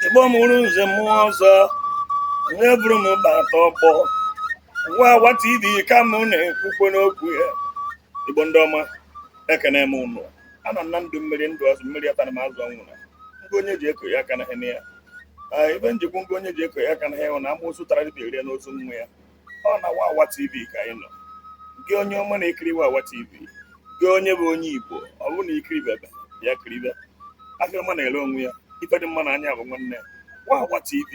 igbo mụrụ nze mụọ ọzọ onye buru m bata ọkpọ wawa tv ka m na-ekwukwe n'okwu ya igbo ndị ọma ekene m unu ana m na ndụ mmiri ndụ azụ mmiri atana ma azụ anwụna ngụ onye ji eko ya akanahịna ya Ee, ife m ji kwu ngụ onye ji eko ya akanahịna na amụsụ tara dibịa rie n'ozu nwa ya ọ na Wawa TV ka anyị nọ gị onye ọma na-ekiri Wawa TV gị onye bụ onye Igbo ọ bụrụ na i kiribebe bịa kiribe afịa ọma na-ere onwe ya ife dị mma na anya bụ nwanne Wawa TV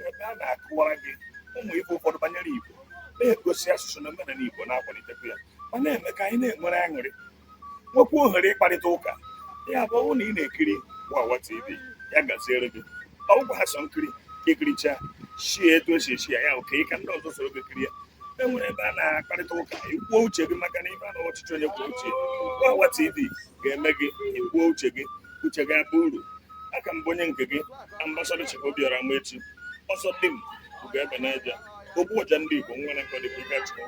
ebe a na-akụwara gị ụmụ ife ụfọdụ banyere Igbo na-egosi asụsụ na omenala Igbo na-akwalitekwa ya ma na-eme ka anyị na-enwere aṅụrị nwekwa ohere ịkparịta ụka ya bụ ọ bụ na ị na-ekiri wawa tv ya gaziere gị ọ bụkwaha sọ nkiri ikiricha shie etu esi echi ya ya oke ka ndị ọzọ soro gị kirie e nwere ebe a na-akparịta ụka ikwuo uche gị maka na ife a na ọchịchị onye kwuo uche wawa tv ga-eme gị ikwuo uche gị uche gị abụ uru aka m bụ onye nke gị ambasada Chief Obiora Amaechi ọsọ dị m bụ ebe na-eje ogbu ọja ndị Igbo nwa na-akọ dịka ike achịkọ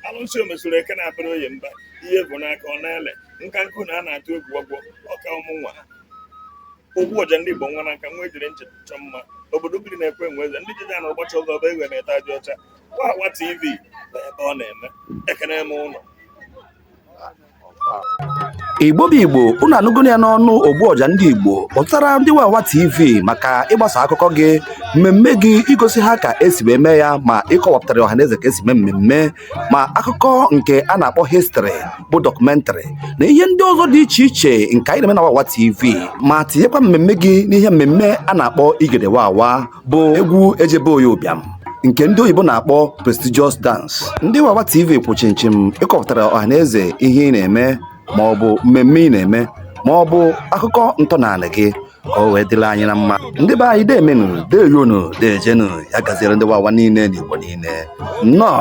alụsị omesoro eke na-abara oye mba ihe bụ n'aka ọ na-ele nka nkụ na a na-atụ egwu ọgwọ ọka ụmụ nwa ogbu ọja ndị Igbo nwa na nka nwa ejiri nche chọ mma obodo biri na-ekwe enwe eze ndị jiji anụrụ gbacha ụzọ ọba egwe na-ete ajọ ọcha wawa tv bụ ebe ọ na-eme ekene m unu igbo bụ igbo unu anụgo ya n'ọnụ ogbu ọja ndị igbo kpọtara ndị wawa tv maka ịgbasa akụkọ gị mmemme gị igosi ha ka esi wee mee ya ma ịkọwapụtara ọhaneze ka esi mee mmemme ma akụkọ nke a na-akpọ histrị bụ dọkụmentrị na ihe ndị ọzọ dị iche iche nke anyị na-eme na wawa tv ma tinyekwa mmemme gị n'ihe mmemme a na-akpọ igede wawa bụ egwu eje be onye ụbịam nke ndị oyibo na-akpọ prestigious dance ndị wawa tv kwụ chimchim ịkọpụtara ọhaneze ihe ị na-eme ma ọ bụ mmemme ị na-eme ma ọ bụ akụkọ ntọnala gị ka o wee dịrị anyị na mma ndị be anyị deemenu deeyonu deejenu ya gaziere ndị wawa niile na igbo niile nnọọ